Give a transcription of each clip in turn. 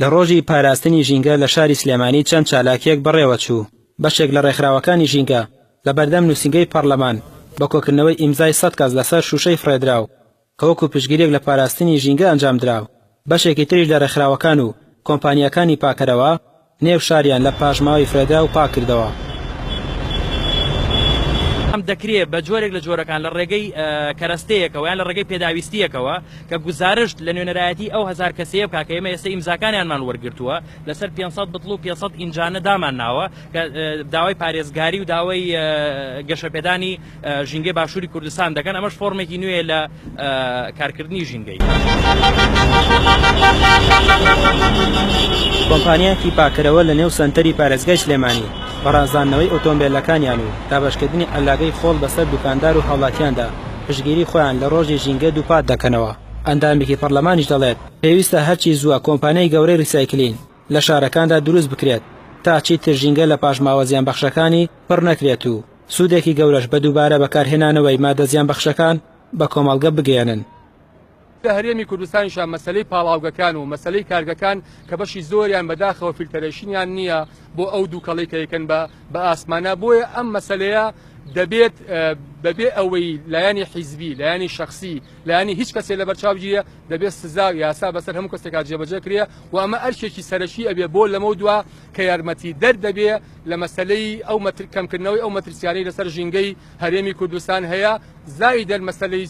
لە ڕۆژی پاراستنی ژینگە لە شاری سلێمانی چەند چالاکییەک بەڕێوەچوو، بەشێک لە ڕێکخراوەکانی ژینگە لە بەردەم نووسینگەی پەڕلەمان بە کۆکردنەوەی ئیمزای سەد کەس لەسەر شووشەی فڕێدراو کە وەکو پشتگیرییەک لە پاراستنی ژینگە ئەنجامدرا، بەشێکی تریش لە ڕێکخراوەکان و کۆمپانیاکانی پاکەرەوە، نێو شاریان لە پاشماوەی فرەدراو پاک کردەوە. دەکرێت بە جۆرێک لە جۆرەکان لە ڕێگەی کەرەستەیەکەوە یان لە ڕێگەی پێداویستییەکەوە کە گوزارشت لە نوێنەرایەتی ئەو هەزار کەسەیە بکات کە ئێمە ئێستا ئیمزاکانیانمان وەرگرتووە لەسەر پێنج سەد بتڵ و پێنج سەد ئینجانە دامانناوە کە داوای پارێزگاری و داوای گەشەپێدانی ژینگەی باشووری کوردستان دەکەن، ئەمەش فۆرمێکی نوێیە لە کارکردنی ژینگەی. کۆمپانیایەکی پاککەرەوە لە نێو سەنتەری پارێزگای سلێمانی، بە ڕازاندنەوەی ئۆتۆمبێلەکانیان و دابەشکردنی عەللاگەی خۆڵ بەسەر دوکاندار و هاوڵاتیاندا، پشتگیری خۆیان لە ڕۆژی ژینگە دووپات دەکەنەوە. ئەندامێکی پەرلەمانیش دەڵێت، پێویستە هەرچی زووە کۆمپانیای گەورەی ڕیسایکلین لە شارەکاندا دروست بکرێت، تا چیتر ژینگە لە پاشماوە زیانبەخشەکانی پڕ نەکرێت و سوودێکی گەورەش بە دووبارە بەکارهێنانەوەی ماددە زیانبەخشەکان بە کۆمەڵگە بگەیەنن. لە هەرێمی کوردستانیشا مەسەلەی پاڵاوگەکان و مەسەلەی کارگەکان کە بەشی زۆریان بەداخەوە فیلتەرەیشنیان نییە بۆ ئەو دووکەڵەی کە یەکەن بە بە ئاسمانا بۆیە ئەم مەسەلەیە دەبێت بەبێ ئەوەی لایەنی حیزبی لایەنی شخصی لایەنی هیچ کەسێ لە بەرچاوگیرە دەبێت سزا و یاسا بەسەر هەموو کەسێکا جێبەجێ کرێ و ئەمە ئەرکێکی سەرەکی ئەبێ بۆ لەمەو دوا کە یارمەتی دەر دەبێ لە مەسەلەی ئەو کەمکردنەوەی ئەو مەترسیانەی لەسەر ژینگەی هەرێمی کوردستان هەیە، زایدەن مەسەلەی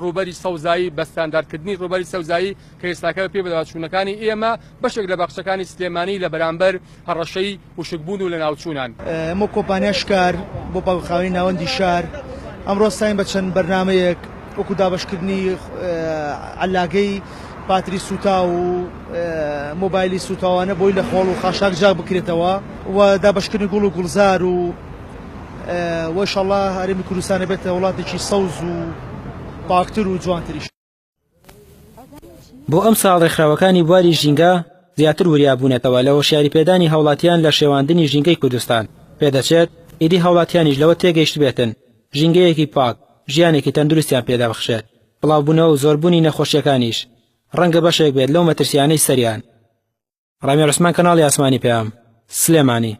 ڕووبەری سەوزایی بە ستانداردکردنی ڕووبەری سەوزایی کە ئێستاکە بەپێی بەدواداچوونەکانی ئێمە بەشێک لە باخچەکانی سلێمانی لە بەرامبەر هەڕەشەی وشکبوون و لەناوچوونان. ئەمەو کۆمپانیای شکار بۆ پاکوخاوەنی ناوەندی شار ئەمڕۆ هەستاین بە چەند بەرنامەیەک وەکو دابەشکردنی عەللاگەی باتری سووتاو و مۆبایلی سووتاوانە بۆی لە خۆڵ و خاشاک جاک بکرێتەوە و دابەشکردنی گوڵ و گوڵزار و وەشەڵا هەرمی کوردستانە بێتە وڵاتێکی سەوز و پاکتر و جوانتریش. بۆ ئەمساڵ ڕێکخراوەکانی بواری ژینگە زیاتر وریابوونەتەوە لە هۆشیاری پێدانی هاوڵاتیان لە شێواندنی ژینگەی کوردستان، پێدەچێت ئیدی هاوڵاتیانیش لەوە تێگەیشتبێتن ژینگەیەکی پاک، ژیانێکی تەندروستیان پێدەبەخشێت. بڵاوبوونەوە و زۆربوونی نەخۆشییەکانیش ڕەنگە بەشێک بێت لەو مەترسییانەی سەریان. ڕامی عوسمان کەناڵی ئاسمانی پەیام، سلێمانی.